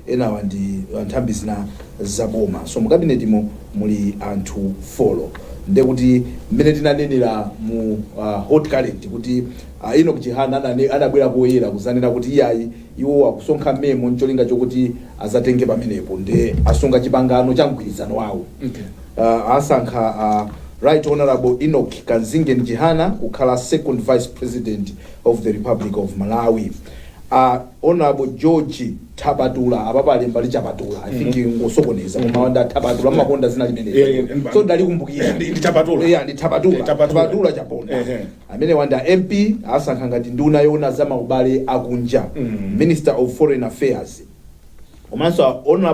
enawa ndi uh, nthambi zina za boma so mu kabinetimo muli anthu folo ndekuti mmene tinanenera mu uh, hot current kuti uh, enoch chihana anane- anabwera poyera kuzanena kuti iyayi iwo akusonkha memo ncholinga chokuti azatenge pamenepo nde asunga chipangano cha mgwirizano wawo uh, asankha uh, right honorable enoch kamzingeni chihana kukhala second vice president of the republic of malawi A Hon George Thapatula, apapa alemba ndi Chapatula, I think angosokoneza koma awa ndi a Thapatula, amakonda dzina limeneli. Eh, eh, So ndalikumbukira. Ndi- ndi Thapatula. Yeah, ndi Thapatula. Eh, Thapatula. Thapatula Chaponda. Eh, eh. Amenewa ndi a MP asankha ngati nduna yoona za maubale akunja, Minister of Foreign Affairs. Komanso a Hon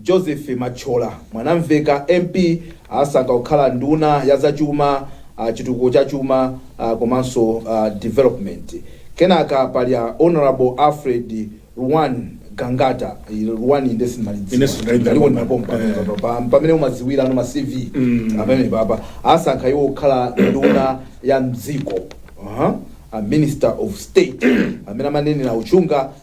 Joseph Mathyola Mwanamveka, MP, asankha kukhala nduna ya za chuma, chitukuko cha chuma komanso development. Kenaka pali a Hon Alfred Ruwan Gangata, Ruwan nde sindimalidziwa ndaliko ndi mapompo pamenepapa mpamene mumadziwira ma CV pamenepapa, asankha iwo kukhala nduna ya m'dziko, a Minister of State, amene amanenera a Uchindami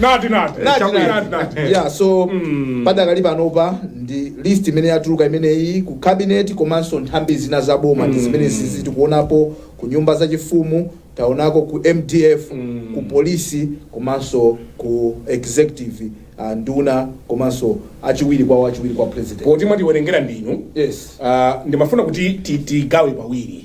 nati nati Nati, Chabwino. nati. nati nati yeah so Mm. padakali panopa ndi list imene yatuluka imeneyi ku cabinet komanso nthambi zina za boma ndi zimene zizi tikuonapo ku nyumba za chifumu taonako ku mdf ku polisi komanso ku executive uh, nduna komanso achiwiri kwawo achiwiri kwa president poti mwatiwerengera ndinu yes Ah, ndimafuna kuti ti- tigawe pawiri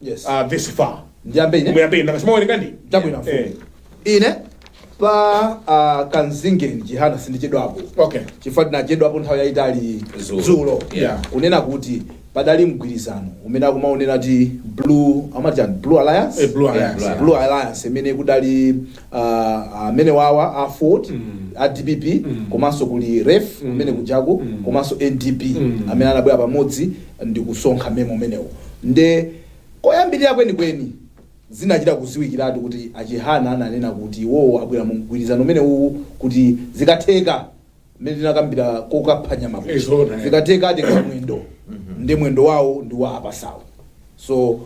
Yes. ah, vesi 5 ndiyambe ine muyambeni ndakasimawerenga ndi chabwino Eh, mfumu ine pa ah, kamzingeni chihana sindichedwapo okay chifukwa tinachedwapo nthawi yayitali Dzulo. dzulo Yeah. kunena kuti padali mgwirizano umene akumaunena kuti blue amatiani blue alliance Eh, Blue Alliance. Yeah, blue alliance imene kudali ah, amene awa aford a dpp komanso kuli ref umene kujaku komanso ndp amene anabwera pamodzi ndikusonkha memo umenewo nde koyambilira kwenikweni zinachita kuziwikiratu kuti a Chihana ananena kuti iwowo abwera mu mgwirizano umenewuwu kuti zikatheka mmene tinakambira kokapha nyama kuja zikatheka atenga mwendo nde mwendo wawo ndi wa apasawo so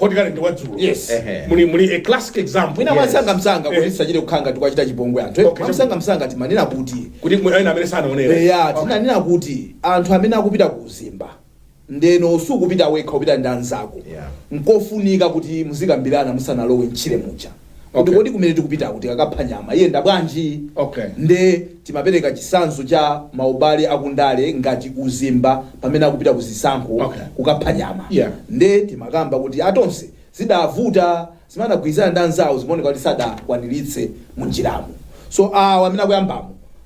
hot current wa dzulo Yes. Ehe. muli muli a classic example mwina Yes. mwamsangamsanga kuti Eh. tisachite kukhala ngati tikuwachita chipongwe anthu eh? Okay, mwamsangamsanga timanena kuti kuti mwe- ena amene sanaonera eya Okay. tinanena kuti anthu amene akupita ku uzimba ndeno sukupita wekha upita ndi anzako Yeah. nkofunika kuti muzikambirana musanalowe mtchire muja kuti Okay. kodi kumene tikupitaku tikakapha nyama iyenda bwanji Okay. nde timapereka chisanzo cha maubale akundale ngati uzimba pamene akupita ku zisankho Okay. kukapha nyama Yeah. nde timakamba kuti a Tonse zidavuta zimene anagwirizana ndi anzawo zimaoneka kuti sadakwaniritse mu njiramo so awa amene akuyambamo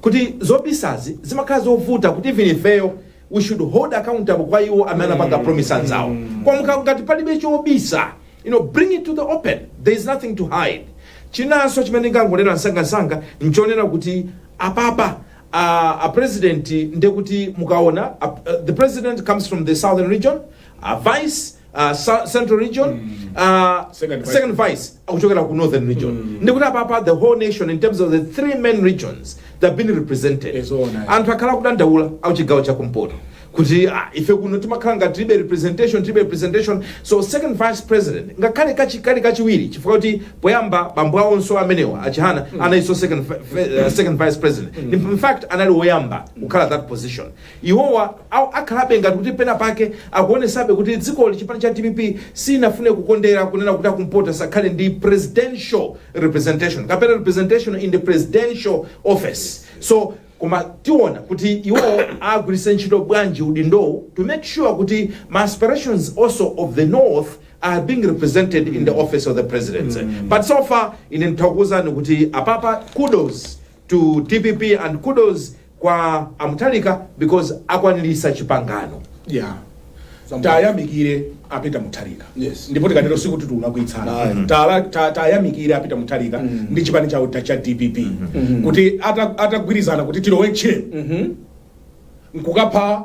kuti zobisazi zimakhala zovuta kuti even ifeyo we should hold accountable kwa iwo amene anapanga promise zawo kwa mukha- ngati palibe chobisa you know bring it to the open there is nothing to hide chinanso chimene ndingangonena msangamsanga nchonena kuti apapa a, a president ndekuti mukaona a, uh, the president comes from the southern region a vice uh, Sa- central region uh, Second vice. second vice akuchokera ku northern region ndikuti apapa the whole nation in terms of the three main regions that have been represented Yes, oh, nice. anthu akhala akudandaula akuchigawo chakumpoto kuti ah, ife kuno timakhala ngati tilibe representation tilibe representation so second vice president ngakhale kachi- kali kachiwiri chifukwa kuti poyamba bambo awonso amenewa achihana anaiwonso second, vi- vi- uh, second vice president in fact anali woyamba kukhala that position Iwowa akhalabe ngati kuti pena pake akuonesabe kuti dzikoli chipani cha dpp sinafune kukondera kunena kuti akumpoto asakhale ndi presidential representation kapena representation in the presidential office so koma tiona kuti iwo agwiritse ntchito bwanji udindowu to make sure kuti ma aspirations also of the north are being represented in the office of the presidency but so far ine nditha kukuuzani kuti apapa kudos to dpp and kudos kwa a Mutharika because akwanilisa chipangano yeah tayamikire a Peter Mutharika yes. ndipo tikatero sikuti tulakwitsana mm -hmm. ta, tayamikire a Peter Mutharika mm -hmm. ndi chipani chawo cha dpp mm -hmm. kuti atagwirizana ata kuti tilowe ntchire mm -hmm. nkukapha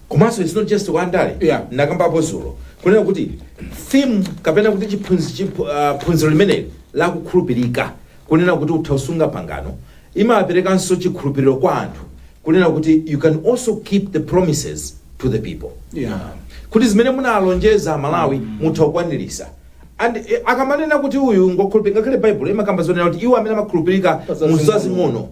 komanso it's not just wa ndale Yeah. ndakambapo zulo kunena kuti theme kapena kuti chiphunzi- chiphu- ah, phunziro limeneli lakukhulupirika kunena kuti utha kusunga pangano imaperekanso chikhulupiriro kwa anthu kunena kuti you can also keep the promises to the people Yeah. kuti zimene munalonjeza Amalawi mutha kukwanirisa and eh, akamanena kuti uyu ngokhulupirika ngakhale baibulo imakamba zonena kuti iwo amene amakhulupirika Pazazing'ono. muzazing'ono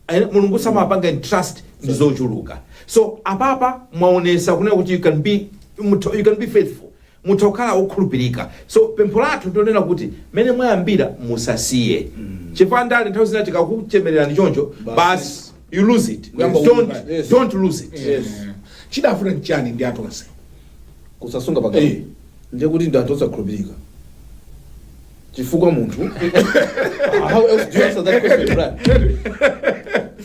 Eh, mulungu amapanga entrust ndi zochuluka so apapa mwaonesa kunena kuti you can be mutha- you can be faithful mutha kukhala okhulupirika so pempho lathu ndionena kuti mmene mwayambira musasiye chifukwa ndale nthawi zina tikakuchemererani choncho basi you lose it Kuyamba don't, kulimba. Yes. don't lose it Yes. chidafuna nchani ndi a Tonse kusasunga Eh. pangano ndiye kuti ndi anthu osakhulupirika chifukwa munthu how else do you answer that question Brian?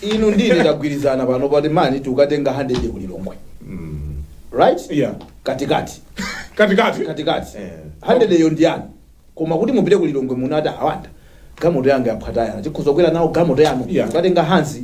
inu ndi ine tagwirizana pano pati mani tikukatenga 100 ku lilongwe right Yeah. katikati katikati katikati Eh. 100 yo ndi yanu koma kuti mupite ku lilongwe munati a Wanda gamoto yanga yaphwa tayala tikhoza kukwera nawo gamoto yanu Yeah. mukatenga hanzi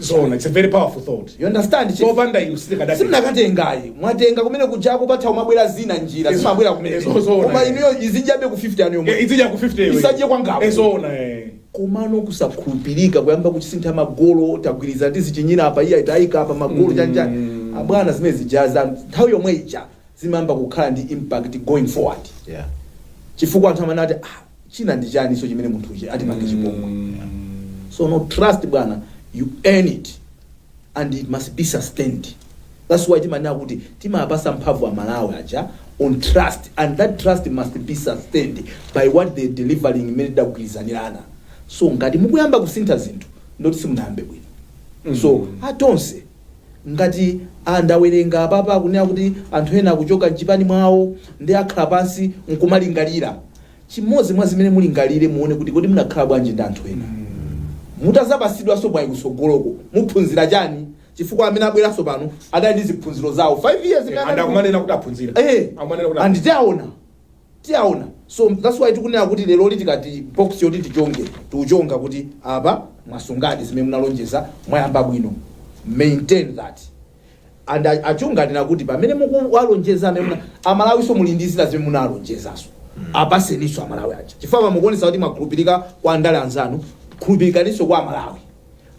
zoona it's a very powerful thought You understand, chief? popanda inu sitikadati simunakatengayi mwatenga kumene kuja pakatha kumabwera zina njira Ezo- zimabwera kumene ezo- zoona, koma eh. ineyo izipitabe ku 50 anu yomwe idzija ku 50 iwe. Isakhale kwangapo. Eh, zoona eh. komano kusakhulupirika kuyamba kuzisintha magolo tagwirizana tizichinyira apa iye wayika apa magolo aja abwana zimene zijazo nthawi yomwe ija zimayamba kukhala ndi impact going forward Yeah. chifukwa anthu amene ati ah, china ndi chaniso chimene munthu uja atipange chipongwe so no trust bwana you earn it and it must be sustained that's why timanena kuti timawapasa mphamvu amalawi aja on trust and that trust must be sustained by what they delivering imene tidagwirizanirana so ngati mukuyamba kusintha zinthu ndiye kuti simunayambe bwino so atonse Ngati a- ndawerenga apapa akunena kuti anthu ena akuchoka mchipani mwawo nde akhale pansi nkumalingalira. Chimodzi mwa zimene mulingalire muone kuti kodi munakhala bwanji ndi anthu ena. Mutazapasidwanso mwayi kutsogoloko muphunzira chani chifukwa amene abweranso pano adali ndi ziphunziro zawo 5 years imene anali ku. Eh and tiwaona. tiwaona so that's why tikunena kuti leroli tili ndi box yoti tichonge tiuchonga kuti apa mwasungadi zimene munalonjeza mwayamba bwino maintain that and a- achina ndani kuti pamene mukuwalonjeza amene muna- amalawiso muli ndi zina zimene munalonjezaso apatseninso amalawi aja chifukwa pamukuonesa kuti mwakhulupirika kwa andale anzanu khulupirikaninso kwa amalawi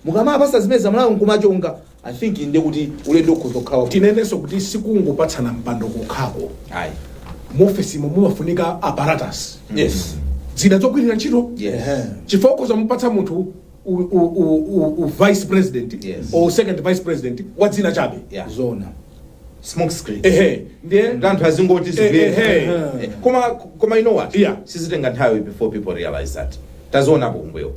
mukamapanga zimenezi amalawi nkumachonga i think inde kuti ulendo ukhoza kukhala wabwino. tinenenso kuti sikungopatsana mpando kokhako Ayi. muofesimo mumafunika apparatus yes zida zogwirira ntchito yes Ehe. chifukwa ukhoza kumupatsa munthu u, u, u, u, u vice president Yes. or second vice president wa dzina chabe yeah zona smoke screen ehe ndiye nkuti anthu azingoti Eh, eh, zibwere eh. Eh, koma koma you know what Yeah. sizitenga nthawi before people realize that tazionapo kumbuyo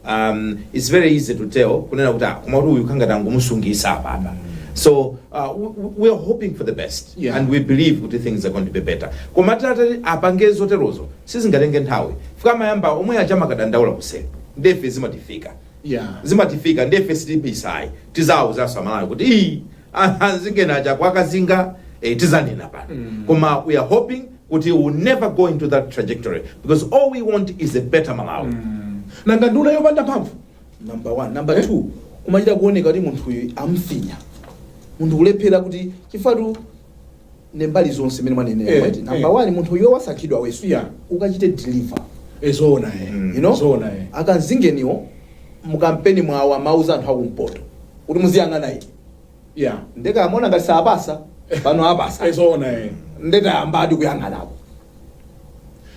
um, it's very easy to tell kunena kuti ah, koma kuti uyu kungati angomusungisa apapa so uh, w- w- we are hoping for the best Yeah. and we believe kuti things are going to be better koma atati apange zoterozo sizingatenge nthawi chifukwa amayamba omwe aja kumadandaula kuseri ndefe zimatifika Yeah. zimatifika ndefe sitibisayi tizauza aMalawi kuti iyi anzingana aja kwakazinga eh, tizanena pano koma we are hoping kuti we will never go into that trajectory because all we want is a better malawi nanga nduna yopanda mphamvu number one number two kumachita kuoneka kuti munthuyu amfinya munthu kulephera kuti chifatu ndi mbali zonse mene mwanenera Eh, mwati eh. number one munthu uyo wasankhidwa yes Yeah. ukachite deliver ezoona e Mm. you know zoona e akanzingeniwo mukampeni mwawo amauza anthu akumpoto kuti muziyang'ana iti ya ndeka amona ngati sapasa pano apasa ezoona e nde tayambadi kuyang'anako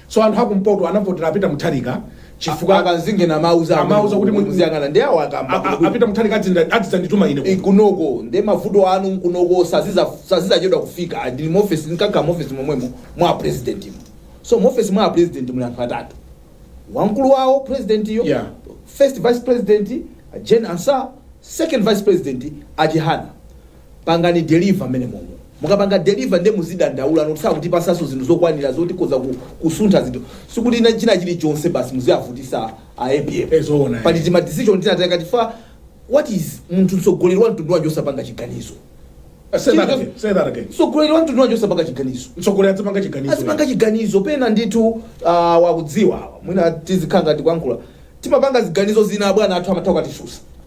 so anthu akumpoto anavotera a Peter Mutharika chifukwa akanzingenawo amawauza kuti mu- muziyang'ana ndi awo a- a- akamba a Peter Mutharika adzinda- adzidzandituma ine kuno. kunoko ndi mavuto anu nkunoko saziza sazizachedwa kufika ndi muofesi nkakhala muofesi momwemo mwa apresident mo so muofesi mwa apresident muli anthu atatu wamkulu wawo president yo Yeah. first vice president Jane Ansah second vice president a Chihana pangani deliver mmenemomo mukapanga deliver nde muzidandaula kuti sakutipatsanso zinthu zokwanira zoti tikhoza ku- kusuntha zinthu sikuti ina china chilichonse basi muziyavutisa a apm Eh, zoona, eh. pali tima decision tina tikati fa what is munthu mtsogoleri wa mtundu wanji osapanga chiganizo Uh, say that again. Say that again. mtsogoleri wa mtundu wanji osapanga chiganizo Mtsogoleri adzipanga chiganizo. azipanga chiganizo pena ndithu uh, wakudziwa awa mwina tizikhala ngati kuyankhula timapanga ziganizo zina abwana athu amatha kutitsutsa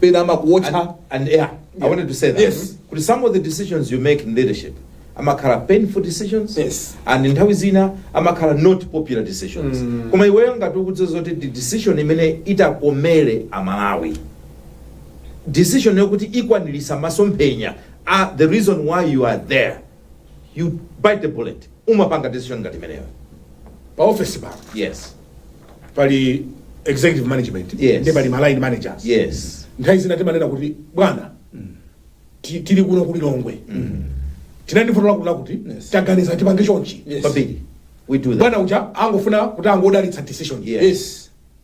pena amakuwotcha And- and yeah, I wanted to say that. Yes. Kuti some of the decisions you make in leadership amakhala painful decisions Yes. and nthawi zina amakhala not popular decisions koma iweyo ngati ukudziwa zoti ndi decision imene itakomere amalawi decision yokuti ikwaniritsa masomphenya the reason why you are there you bite the bullet umapanga decision ngati imeneyo pa office pano yes pali executive management Yes. nde pali ma line managers yes nthawi zina timanena kuti bwana ti- tili kuno ku Lilongwe tinali ndi vuto lakuti lakuti Yes. taganiza tipange chonchi Yes. zambiri we do that bwana uja angofuna kuti angodalitsa decision Yes. yes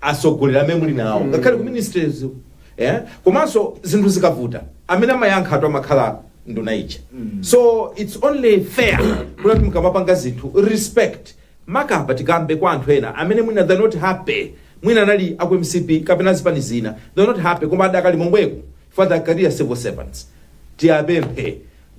atsogoleri amene muli nawo ngakhale ku ministries eh komanso zinthu zikavuta amene amayankhatu amakhala nduna ija so it's only fair kuti mukamapanga zinthu respect makamaka tikambe kwa anthu ena amene mwina they're not happy mwina anali aku mcp kapena zipani zina they're not happy koma adakali momweko father career civil servants tiwapemphe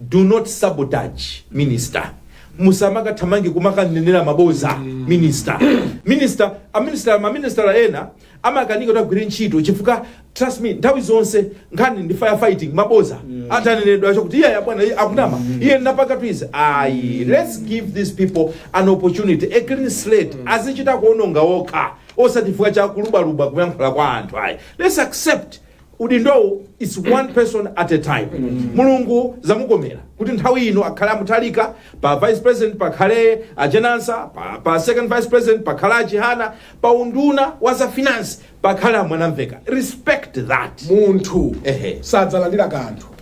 Do not sabotage minister musamakathamange kumakanenera maboza minister minister a minister ma minister ena amakanika kuti azigwira ntchito chifukwa trust me nthawi zonse nkhani ndi firefighting maboza atanenedwa kuti iye abwana iye akunama iye napaka zizi ayi let's give these people an opportunity a clean slate azichita kuononga okha osati chifukwa cha kulubaluba kuyankhula kwa anthu ayi let's accept udindowu its one person at a time mulungu zamkomera kuti nthawi ino akhale a Mutharika pa vice president pakhale a Jane Ansah pa, pa second vice president pakhala a Chihana pa unduna wa za finance pakhale a Mwanamvekha respect that munthu Ehe. sadzalandira kanthu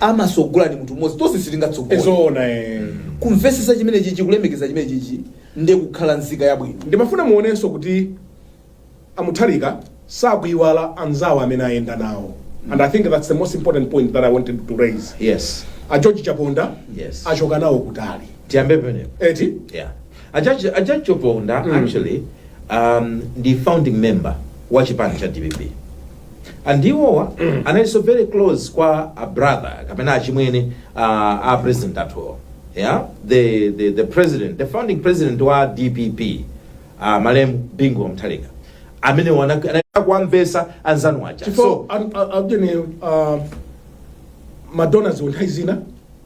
amatsogola ndi munthu mmodzi tonse sitingatsogole zoona eh. kumvetsetsa chimene chichi kulemekeza chimene chichi ndi kukhala nzika yabwino ndimafuna muonenso kuti amutharika sakuiwala anzawo amene ayenda nawo and i think that's the most important point that i wanted to raise yes a george chaponda Yes. achoka nawo kutali tiyambe penepo eti yeah A George a George Chaponda Mm. actually um, ndi founding member wa chipani cha dpp and iwowo analinso very close kwa a brother kapena achimwene uh, a president athuwo yeah? the, the, the president the founding president wa dpp uh, malemu bingu wa mutharika amene wana- anali kuwamvetsa anzanu aja so chifukwa adjene madonors nthawi zina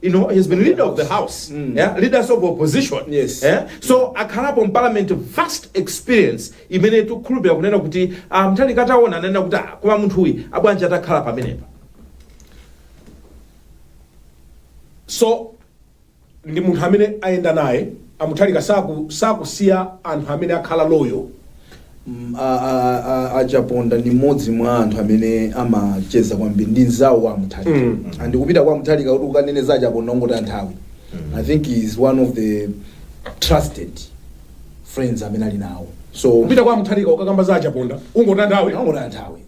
you know, he's been leader of the house, yeah, leader of opposition. Yes. Yeah? So akhalapo mparliament vast experience imene tikukhulupirira kunena kuti ah, mutharika ataona ananena kuti ah, koma munthu uyu bwanji atakhala pamenepa. so ndi munthu amene ayenda naye A Mutharika saku sakusiya anthu amene akhala loyal. mm, a, a, a, a chaponda ndi mmodzi mwa anthu amene amacheza kwambiri ndi mnzawo wa mutharika Mm. and kupita kwa mutharika kuti ukanene za a chaponda ungotaya nthawi i think he is one of the trusted friends amene ali nawo so Kupita kwa Mutharika ukakamba za achaponda ungotaya nthawi. ungotaya nthawi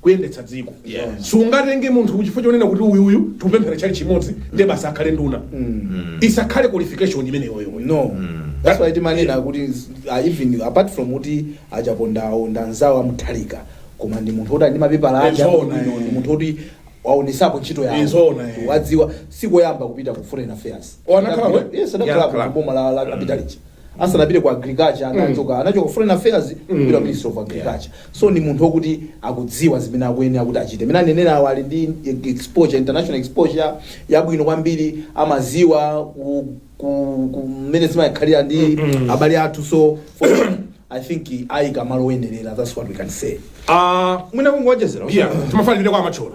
kuyendetsa dziko Yes. sungatenge munthu chifukwa chonena kuti uyuyu tikupemphera tchalitchi chimodzi ndiye basi akhale nduna isakhale qualification imeneyoyo no that's why timanena kuti uh, even apart from kuti achapondawo ndanzawo amutharika koma ndi munthu oti ali ndi mapepala ake Izona, abwino, eh. ndi munthu oti waonesapo ntchito Izona, yawo eh. wadziwa sikoyamba kupita ku foreign affairs Anakhala we? yes anakhala Anakhala. ku boma la la capitality asanapite ku agriculture anachoka anachoka foreign affairs kupita ministry of agriculture so ni munthu okuti akudziwa zimene akuyenera kuti achite mmene anenera awo ali ndi exposure international exposure yabwino kwambiri amadziwa ku- ku- kumene zimakhalira ndi abale athu so for me, i think ayika malo oyenerera that's what we can say Ah, mwina kungowonjezera yeah timafanirire kwa amachola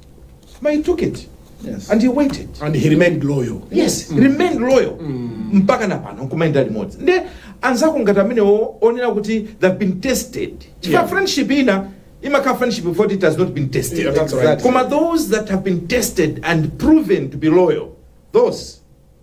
But he took it Yes. and he waited. and he remained loyal Yes, remain loyal mpaka na pano nkumayenda limodzi nde anzako ngati amenewo onena kuti they've been tested chifukwa Yeah. friendship ina imakhala friendship before it has not been tested Yeah, that's right. koma those that have been tested and proven to be loyal those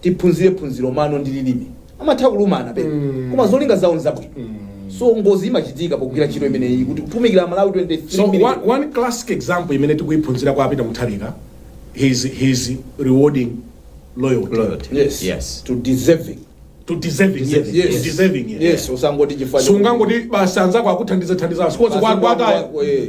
tiphunzire phunziro mano ndi lilime amatha kulumana pe koma zolinga zawo nzabwino so ngozi imachitika pogwira ntchito imeneyi kuti kutumikira malawi 23 So one, million. one classic example imene tikuiphunzira kwa a Peter Mutharika he's, he's rewarding loyalty, Loyalty. yes, Yes. to deserving to deserving yes, Deserving, yes. to deserving yes. yes usangoti chifukwa sungangoti basi anzako akuthandiza thandiza sikonse Basi kuwataya kwako, eh.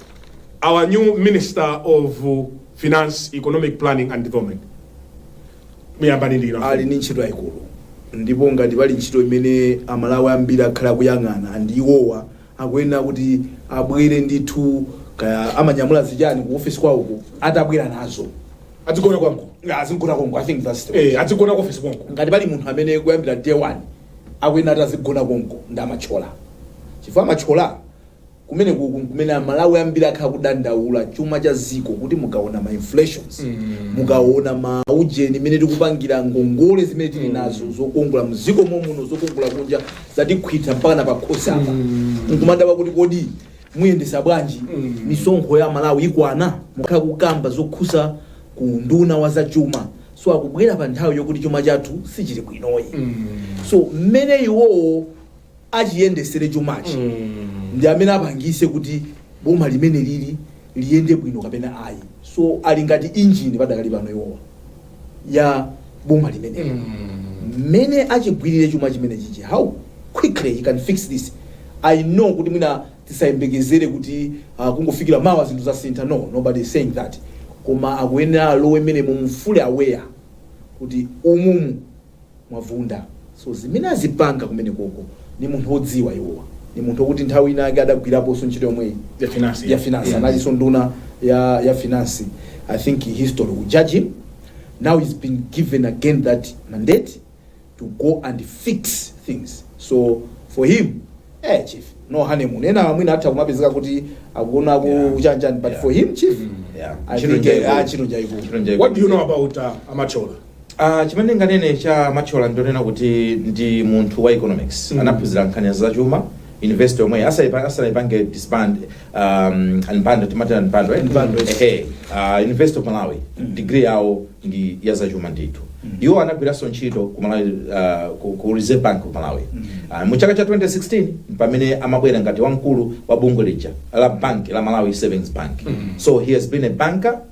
Our new minister of finance, economic planning and development. Muyambani ndi inu. ali ndi ntchito yayikulu ndipo ngati pali ntchito imene amalawi ambiri akhala akuyang'ana ndi iwowa akuyenera kuti abwere ndithu kaya amanyamula zichani ku ofesi kwawoko atabwera nazo Adzigona kwangu. azigona konko I think that's the Eh, adzigona ku office konko. ngati pali munthu amene kuyambira day one akuyenera kuti azigona konko ndi a Mathyola chifukwa a Mathyola Kumenekuku nkumene aMalawi ambiri akhala akudandaula chuma cha ziko kuti mukaona ma inflations mukaona ma ujeni mene tikupangira ngongole zimene tili nazo zokongola mziko momuno zokongola kunja zatikhwitha mpaka na pakhosi apa nkumadabwa kuti kodi muyendesa bwanji misonkho ya malawi ikwana mukhala kukamba zokhuza ku nduna wa za chuma so akubwera pa nthawi yokuti chuma chathu sichili bwinoyi so mmene iwowo achiyendesere chumachi ndi amene apangise kuti boma limene lili liyende bwino kapena ayi so ali ngati injini padakali pano iwowa ya boma limene mmene achigwirire chuma chimene chichi how quickly he can fix this i know kuti mwina tisayembekezere kuti uh, kungofikira mawa zinthu zasintha no nobody is saying that koma akuyenera alowe mmene muvule awone kuti umumu mwavunda so zimene azipanga kumenekoko ni munthu odziwa iwowa ni munthu okuti nthawi ina ake adagwirapo nso ntchito yomweyi Ya finance, ya yeah. finance Yeah. analinso nduna ya, ya finance i think history will judge him now he's been given again that mandate to go and fix things so for him eh chief no honeymoon ena mwina atha kumapezeka kuti akuona ku Yeah. uchanjani but Yeah. for him chief Yeah. i Ntchito think njaibu. eh, ah, ntchito njaibu. Ntchito njaibu. What do you know about uh, a Mathyola? Uh, chimene ndinganene cha Mathyola ndionena kuti ndi munthu wa economics mm. anaphunzira nkhani za chuma university omwe asaipa- asaipange disband um, unbundle timati unbundle eh? Unbundle, yes. Ehe, uh, university of malawi degree yawo ndi ya zachuma ndithu iwo anagwiranso ntchito ku malawi uh, ku, ku reserve bank of malawi uh, mu chaka cha 2016 pamene amabwera ngati wamkulu wa bungwe lija la bank la malawi savings bank so he has been a banker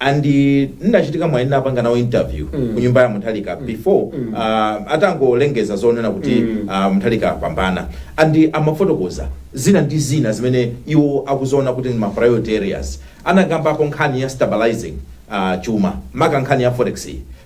and ndinachita mwayi ndinapanga nawo interview mm. ku nyumba ya Mutharika mm. before mm. uh, atangolengeza zonena kuti mm. uh, Mutharika apambana and amafotokoza zina ndi zina zimene iwo akuziona kuti ndi ma priority areas anakambapo nkhani ya stabilizing uh, chuma maka nkhani ya forex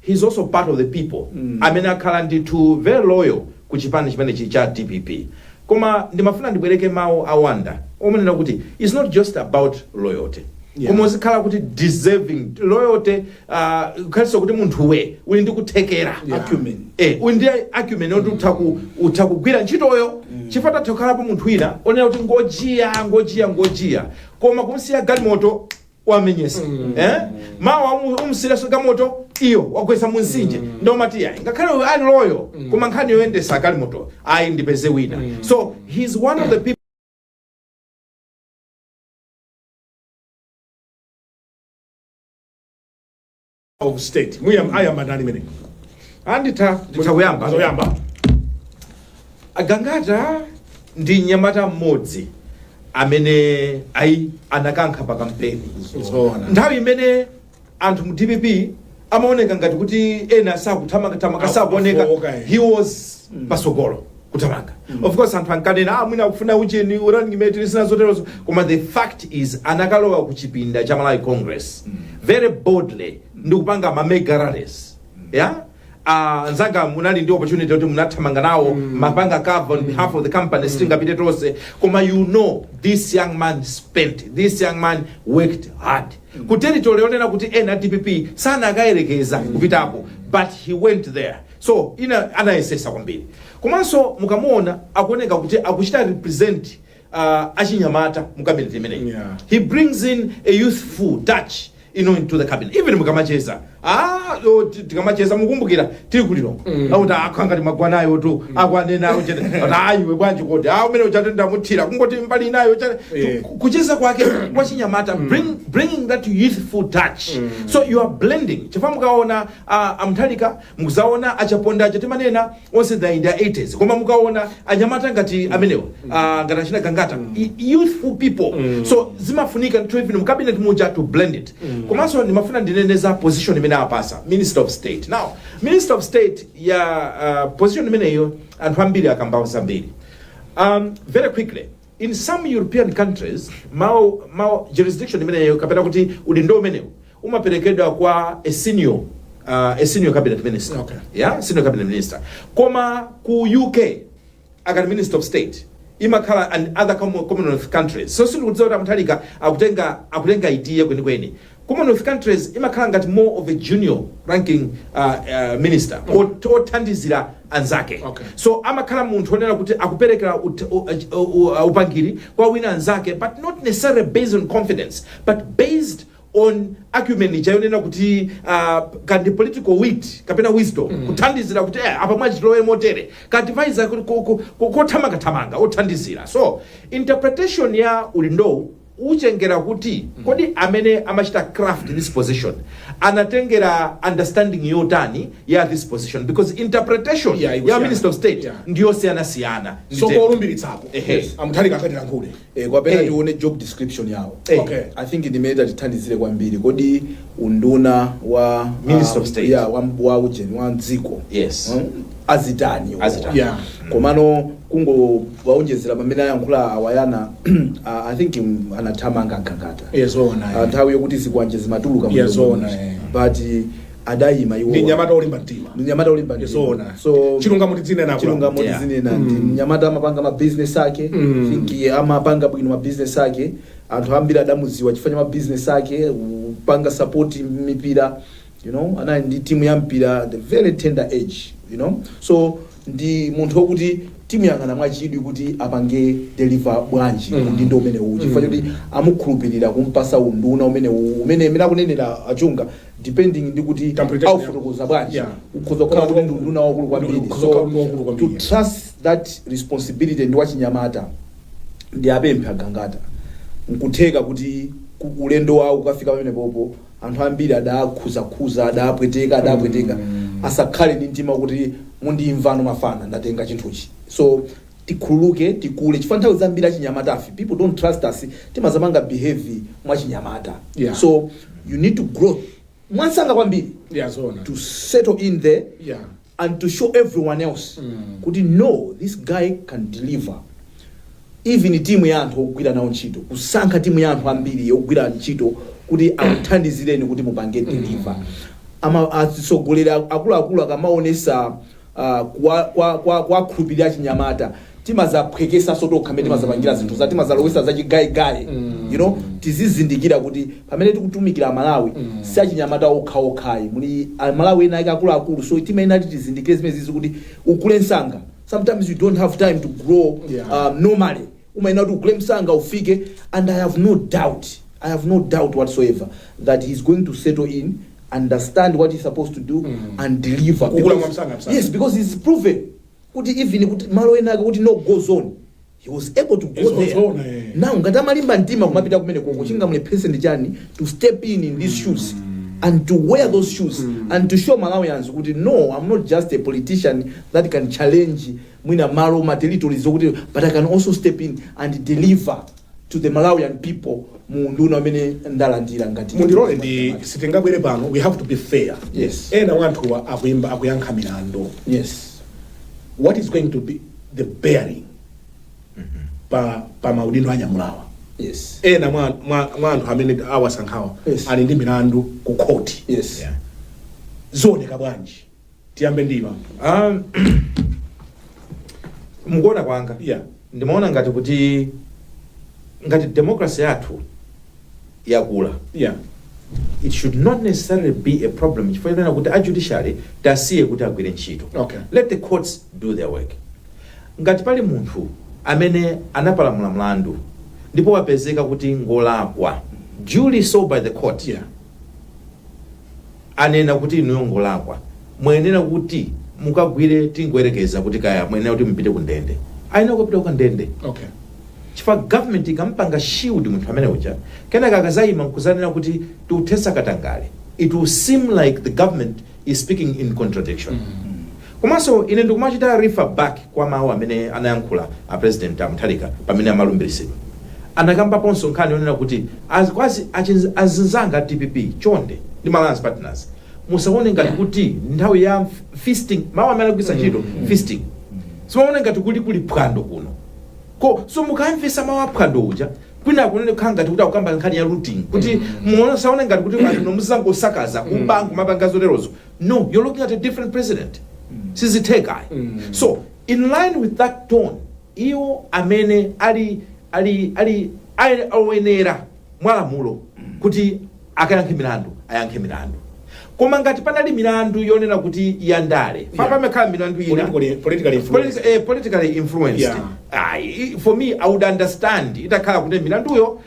he's also part of the people amene akhala ndithu very loyal ku chipani chimenechi cha dpp koma ndimafuna ndibwereke mawu a Wanda omenena kuti it's not just about loyalty Yeah. koma uzikhala kuti deserving loyalty uh, kukhalinso kuti munthuwe uli ndi kuthekera Yeah. Acumen. eh, uli ndi acumen oti utha ku- utha kugwira ntchitoyo chifukwa atha kukhalapo munthu wina onena kuti ngojiya ngojiya ngojiya koma kumsiya galimoto wamenyesa eh mawa umu- umsiireso galimoto iyo wagwesa munsinje nde umati ayi ngakhale uyo ali loyal koma nkhani yoyendesa galimoto ayi ndipeze wina so he's one of the people of state muyam ayamba ndani mmene Nditha Nditha kuyamba. zoyamba a Gangata ndi mnyamata mmodzi amene ayi anakankha pa kampeni zoona nthawi imene anthu mu dpp amaoneka ngati kuti ena sakuthamangathamanga sakuoneka Akufowoka, eh. he was pasogolo kuthamanga of course anthu ankanena ah, mwina akufuna ucheni running mate ndi zina zoterozo koma the fact is anakalowa ku chipinda cha malawi congress very boldly ndi kupanga ma mega rallies yeah Uh, nzanga munali ndi opportunity kuti munathamanga nawo mumapanga cover on behalf of the company sitinapite tonse koma you know this young man spent this young man worked hard ku territory yonena kuti ena dpp sakanayerekeza kupitako but he went there So in a anayesesa kwambiri komanso mukamuona akuoneka kuti akuchita represent uh, achinyamata mu cabinet imeneyi Yeah. he brings in a youthful touch you know, into the cabinet even mukamacheza ah, o, ti- tikamacheza mukumbukira tili kuliro mm. akuti akukhala ngati magwanayo tu mm. akwanena akuchete ayiwe bwanji kodi a umene uchate ndamuthira kungoti mbali inayo chate Yeah. Ku- kucheza kwake kwachinyamata bring, bringing that youthful touch so you are blending chifukwa mukaona A a Mutharika mukudzaona a Chaponda aja timanena onse in in their 80s koma mukaona anyamata ngati amenewa ah, ngati achina Gangata y- youthful people so zimafunika ndithu even mu cabinet muja to blend it komanso ndimafuna ndinene za position imene apasa minister of state now minister of state ya ah, position imeneyo anthu ambiri akambapo zambiri um, very quickly in some european countries mawu mawu jurisdiction imeneyo kapena kuti udindo umenewu umaperekedwa kwa a senior uh, a senior cabinet minister Okay. yeah senior cabinet minister koma ku uk akati minister of state imakhala and other com- commonwealth countries so sindikudziwa kuti a Mutharika akutenga akutenga iti kwenikweni commonwealth countries imakhala ngati more of a junior ranking uh, uh, minister ot- othandizira anzake Okay. so amakhala munthu onena kuti akuperekera ut- u- u- u- upangiri kwa ena anzake but not necessarily based on confidence but based on acumen ija yonena kuti ah, kandi political wit kapena wisdom kuthandizira kuti eh, apa mwachiti tilowe motere ka advisor ku- ku- ku- ku- kothamangathamanga othandizira so interpretation ya undunawu utengera kuti kodi amene amapita ku craft this position anatengera understanding yotani ya this position because interpretation Yeah, ya ikusiyana. minister of state Yeah. ndiyosiyanasiyana so akalumbiritsapo Ehe. a Mutharika akatilankhule Eh, kapena Eh. tione job description yawo Eh. Okay. i think ndi imene itatithandizire kwambiri kodi unduna wa Minister um, of State. yeah, wa, wa ujeni wa mdziko Yes. um, azitani iwo. Azitani. Yeah. komano kungowonjezera pamene ayankhula a Wayana ah, i think mm, anathamanga a Gangata Yes, zoona, eh. Ah, nthawi yokuti zikwanje zimatuluka mu Yeah, jomo zoona, muja. eh. but adayima iwo ndi mnyamata wolimba mtima ndi mnyamata wolimba mtima. Ndizoona. So, chilungamo tidzinena akulu. chilungamo Yeah. tidzinena ndi mnyamata amapanga ma business ake Mm. think amapanga bwino ma business ake anthu ambiri adamuziwa chifukwa cha ma business ake kupanga support mipira you know anali ndi timu ya mpira at a very tender age you know so ndi munthu wokuti timuyang'ana mwachidwi kuti apange deliver bwanji Mm. undunawu umene uwu chifukwa Mm. choti amukhulupirira kumpasa unduna umene uwu umene imene akunenera a Chunga depending ndi kuti aufotokoza bwanji ukhoza kukhala kuti ndi unduna waukulu kwambiri so to trust that responsibility ndi wachinyamata ndi apemphe a Gangata nkutheka kuti ku- ulendo wawo wokafika pamenepopo anthu ambiri adakhuzakhuza adapweteka adapweteka asakhale ndi mtima kuti mundimva ano mafana ndatenga chinthuchi so tikhululuke tikule chifukwa nthawi zambiri achinyamatafe people don't trust us timazapanga behave mwachinyamata Yeah. so you need to grow mwansanga kwambiri Yeah, zoona. to settle in there Yeah. and to show everyone else Mm. kuti no this guy can deliver even timu ya anthu ogwira nawo ntchito kusankha timu ya anthu ambiri ogwira ntchito kuti akuthandizireni kuti mupange deliver ama atsogoleri akuluakulu akamaonesa kwa kwa kwa kuwakhulupirira achinyamata timazaphwekesaso tokha mmene timazapangira zinthu za timazalowesa za chigayigayi you know tizizindikira kuti pamene tikutumikira amalawi si achinyamata okhaokhayi muli amalawi ena ake akuluakulu so timayenera kuti tizindikire zimenezizi kuti ukule msanga sometimes you don't have time to grow Yeah. um, normally umayenera kuti ukule msanga ufike and i have no doubt, i have no doubt whatsoever that he is going to settle in, understand what he is supposed to do and deliver Kukula Because- mwamsanga, msanga. yes because he is proven kuti even kuti malo ena ake kuti no go zone he was able to go Yes, there zone, eh. now ngati amalimba mtima kumapita kumenekoko chingamulephese ndi chani to step in in these shoes and to wear those shoes and to show malawians kuti no i'm not just a politician that can challenge mwina malo ma territories zokutero but I can also step in and deliver to the Malawian people mu unduna umene ndalandira ngati mundilole ndi sitingabwere pano we have to be fair Yes. ena mwa anthuwa akuimba akuyankha milandu yes what is going to be the bearing pa, pa maudindo anyamulawa yes ena mwa, mwa, mwa anthu amene awasankhawa Yes. ali ndi milandu ku khoti yes Yeah. zooneka bwanji tiyambe ndima um, mukuona kwanga Yeah. ndimaona ngati kuti ngati democracy yathu yakula yeah it should not necessarily be a problem chifukwa chonena kuti a judiciary tasiye kuti agwire ntchito Okay. let the courts do their work ngati pali munthu amene anapalamula mlandu ndipo wapezeka kuti ngolakwa duly so by the court yeah anena kuti inuyo ngolakwa muyenera kuti mukagwire tingoyerekeza kuti kaya muyenera kuti mupite ku ndende ayenera kupita ku ndende okay chifukwa government ikampanga shield munthu amene uja kenaka akazayima nkuzanena kuti tikuthetsa katangale it will seem like the government is speaking in contradiction Komanso ine ndikumachita refer back kwa mawu amene anayankhula a President a Mutharika pamene amalumbilisidwa. Anakambaponso nkhani yonena kuti azinzanga a dpp chonde ndi ma alliance partners musaone ngati kuti ndi nthawi ya feasting, mawu amene anagwiritsa ntchito feasting, musaone ngati kuti kuli phwando kuno. Komanso mukamvesa mawu a phwando uja kwinaku kunali kukhala ngati kuti akukamba nkhani ya looting kuti musaone ngati kuti kuno muzidzangosakaza, kuba nkumapanga zoterozo. no you're looking at a different president sizitheka ayi so in line with that tone iwo amene ali ali ali ali oyenera mwalamulo kuti akayankhe milandu ayankhe milandu koma ngati panali milandu yonena kuti yandale Yeah. pamakhala milandu ina Politically- politically influenced. Politi- eh, politically influenced Yeah. Ayi, i- for me i would understand itakhala kuti milanduyo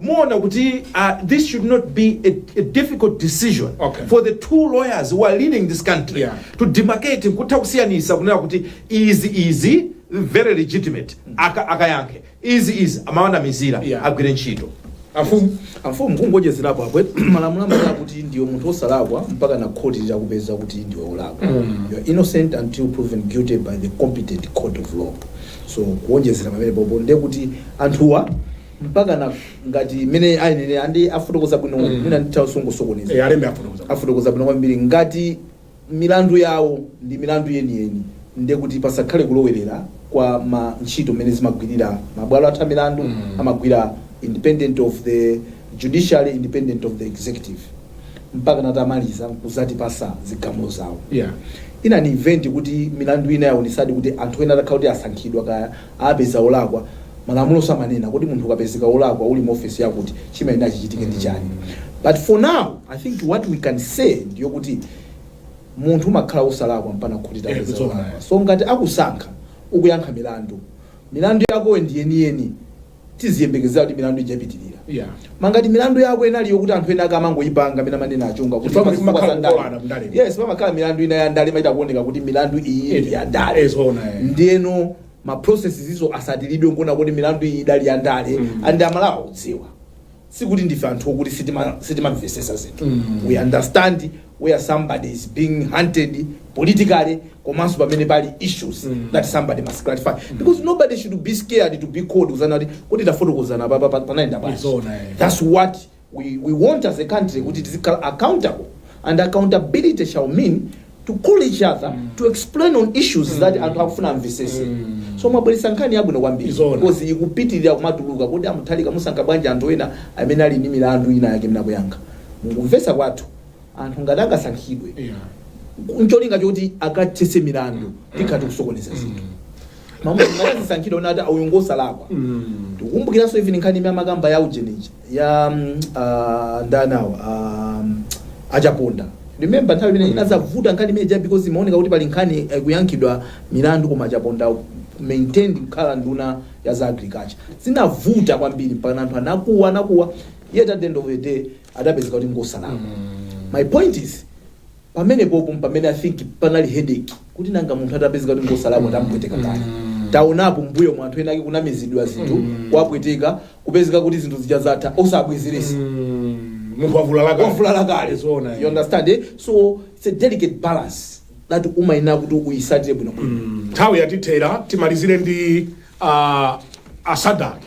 Muona kuti a this should not be a, a difficult decision Okay. for the two lawyers who are leading this country Yeah. to demarcate nkutha kusiyanisa kunena kuti izi izi very legitimate aka akayankhe izi izi amawanamizira Yeah. agwire ntchito afumu amfumu kungoonjezerapo apo malamulo amati kuti ndiwe munthu osalakwa mpaka na khoti litakupeza kuti ndiwe olakwa you are innocent until proven guilty by the competent court of law so kuonjezera pamene popo ndekuti anthuwa mpakana ngati mmene anenera ndi afotokoza bwino Mm. mwina nditha kungosokoneza Eh, alembe afotokoza afotokoza bwino kwambiri ngati milandu yawo ndi milandu yeniyeni nde kuti pasakhale kulowerera kwa ntchito mmene zimagwirira mabwalo athu a milandu Mm. amagwira independent of the judiciary independent of the executive mpakana atamaliza nkuzatipasa zigamulo zawo yeah in an event kuti milandu ina yaonesadi kuti anthu ena atakhala kuti asankhidwa kaya apezeka olakwa, malamulo samanena kuti munthu ukapezeka olakwa uli mu office yakuti chimayenera chichitike ndi chani but for now I think what we can say ndiyokuti munthu umakhala osalakwa mpaka khoti Eh, litapeza kuti zoona, olakwa eh. so ngati akusankha ukuyankha milandu milandu yakoyo ndi yeniyeni tiziyembekezera kuti milandu ija ipitirira Yeah. koma ngati milandu yako inali yokuti anthu ena ake amangoyipanga mmene amanenera a Chunga kuti Chifukwa zifukwa pamakhala za ndale. kukolana mndale. yes pamakhala milandu ina ya ndale imachita kuoneka kuti milandu iyi ndi ya ndale Eh, zoona, eh. ndiyeno ma processes izo asatilidwe nkuona kuti milandu iyi idali ya ndale Mm. and aMalawi akudziwa sikuti ndife anthu okuti sitima sitimamvesesa zinthu we understand where somebody is being hunted politically komanso pamene pali issues that somebody must clarify because nobody should be scared to be called kuzanena kuti kuti tafotokozani papa pa- panayenda bwanji Zoona, eh. that's what we, we want as a country kuti tizikhala accountable and accountability shall mean to call each other to explain on issues that anthu akufuna amvesese so mwabweretsa nkhani yabwino kwambiri Zoona. because ikupitirira kumatuluka kuti a Mutharika akusankha bwanji anthu ena amene ali ndi milandu ina yake akuyankha mukumvesa kwathu anthu ngati angasankhidwe Yeah. ncholinga choti akathese milandu tikhala tikusokoneza zinthu koma munthu atasankhidwa unati ah uyu ngosalakwa tikumbukiranso even nkhani imene amakamba ya ujeni uja ya mm, ah, ndani awa ah, a Chaponda remember nthawi imene inazavuta nkhani imene ija because imaoneka kuti pali nkhani eh, kuyankhidwa milandu koma a Chaponda maintained kukhala nduna ya za agriculture zinavuta kwambiri mpaka anthu anakuwa anakuwa yet at the end of the day adapezeka kuti ngosalakwa my point is Pamenepopo mpamene I think panali headache kuti nanga munthu atapezeka kuti ngosalakwa tamupweteka kale. Taonapo mmbuyomu anthu ena ake kunamizidwa zinthu kuwapweteka kupezeka kuti zinthu zija zatha osabwezeresa. Mm, munthu wavulala kale. Wavulala kale. Zoona, eh. You understand eh? So it's a delicate balance that umayenera kuti uyisatire bwinobwino. nthawi yatithera timalizire ndi uh, a Sadaki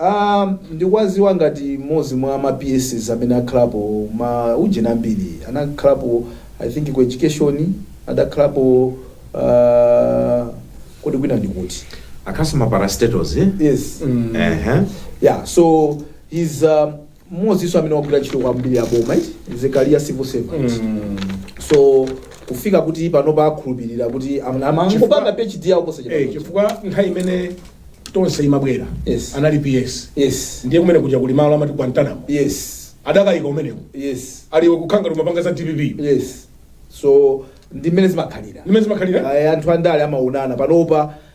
Aaa ndikwaziwa ngati mmozi mwa ma PSs amene akhalapo ma ujeni ambiri anakhalapo I think ku education adakhalapo aaa kodi kwina ndikuti? Akhalaso ma parastatals yes mm ehe yeah so he's aaa. mmodzinso amene wagwira ntchito kwambiri ya boma is a career civil servant so kufika kuti panopa akhulupirira kuti am- am- angopanga phd yawo Eh, posachedwa chifukwa nthawi imene tonse imabwera Yes. anali ps yes ndiye kumene kuja kuli malo amati guantanamo yes adakayika umeneko yes aliwe kukhala ngati umapanga za dpp yes so ndi mmene zimakhalira imene zimakhalira Ayi, anthu andale amaonana panopa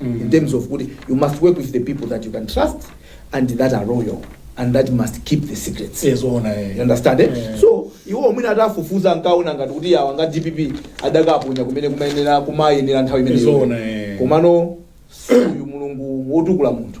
in terms of kuti you must work with the people that you can trust and that are loyal and that must keep the secrets Eh, zoona eh. you understand eh? Yeah. so iwo mwina atafufuza ankaona ngati kuti awa nga a dpp adakaponya kumene kumayenera kumayenera nthawi Zoona, eh. imeneyo komano si uyu mulungu wotukula munthu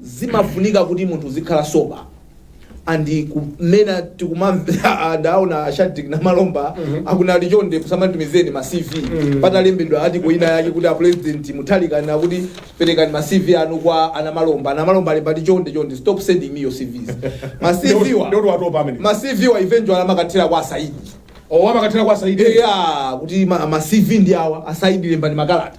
zimafunika kuti munthu uzikhala sober and kunena tikumamva ndaona a shadreck namalomba akunena ati chonde musanditumizeni ma cv patalembedwa ati kuina yake kuti a president mutharika anati perekani ma cv anu kwa a namalomba a namalomba alemba ati chonde chonde stop sending me your cvs ma cv wa Ndio watopa amene. ma cv wa eventually amakathera kwa a saidi Oh, amakathera kwa Saidi. eya kuti ma, ma cv ndi awa a saidi lembani makalata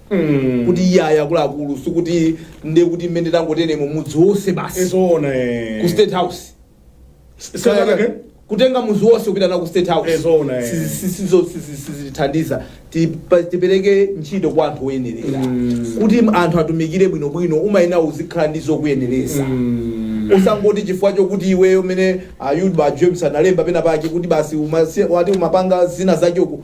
Mm. kuti iye ayi akuluakulu sikuti nde kuti mmene tangotenemo mudzi wonse basi Ezoona eh. ku state house Sanatake? kutenga mudzi wonse kupita nawo ku state house Ezoona, eh. Si- si- sizo- si- si- si- sizithandiza Tipa- tipereke ntchito kwa anthu oyenerera Mm. kuti anthu atumikire bwinobwino umayenera uzikhala ndi zokuyenereza Mm. usangoti chifukwa chokuti iweyo mene ayuba james analemba pena pake kuti basi umasi- wati umapanga zina zachoku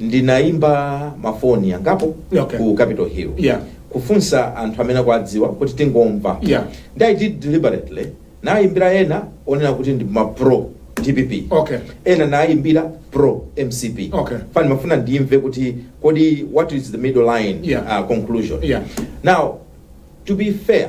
ndinaimba mafoni angapo Okay. ku capital hill Yeah. kufunsa anthu amene akuwadziwa kuti tingomva Yeah. ndi i did deliberately nayimbira ena onena kuti ndi ma pro dpp Okay. ena nayimbira pro mcp Okay. chifukwa ndimafuna ndimve kuti kodi what is the middle line Yeah. uh, conclusion Yeah. now to be fair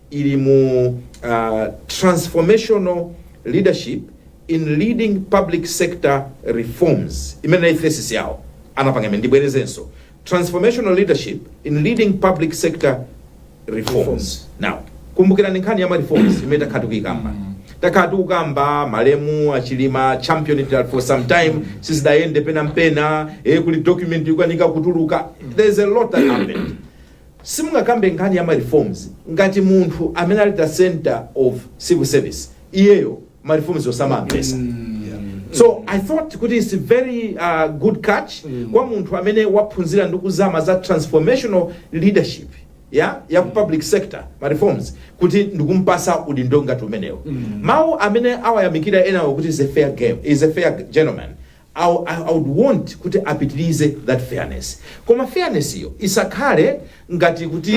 ili mu Transformational Leadership in Leading Public Sector Reforms imene nayi thesis yawo anapanga imene ndibwerezenso Transformational Leadership in Leading Public Sector Reforms now kumbukirani nkhani ya ma reforms imene takhala tikuyikamba takhala tikukamba malemu achilima championed it for some time sizidayende penapena eh, kuli document ikukanika kutuluka there's a lot that happened Simungakambe nkhani ya ma reforms ngati munthu amene ali the center of civil service iyeyo ma reforms wo osawamvetsa. So I thought kuti it's a very uh, good catch kwa munthu amene waphunzira ndi kuzama za transformational leadership ya ya ku public sector ma reforms kuti ndikumpatsa udindo ngati umenewo. Mawu amene awayamikira enawo kuti is a fair game, is a fair gentleman. I would want kuti apitilize that fairness koma fairness yo isakhale ngati kuti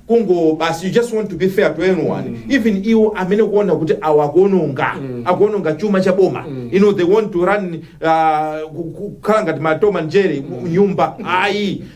kungo basi you just want to be fair to anyone even iwo amene ukuona kuti awa akuononga akuononga chuma cha boma you know they want to run uh, ku- ku- kukhala ngati ma Tom and Jerry mu- nyumba ayi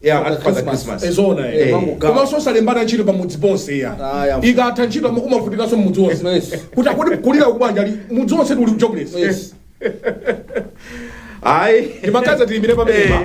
Yeah, After after the Christmas. Christmas. Eh, zoona eh. Eh, kumangogawa. komanso osalembana ntchito pamudzi ponse Ah, ya yeah. ikatha ntchito ama- umavutikanso mudzi wonse Yes. kuti akuti kulira kubanja ali mudzi wonse uli kujobless Yes. Ayi. ndi makazi atilimire pamenepa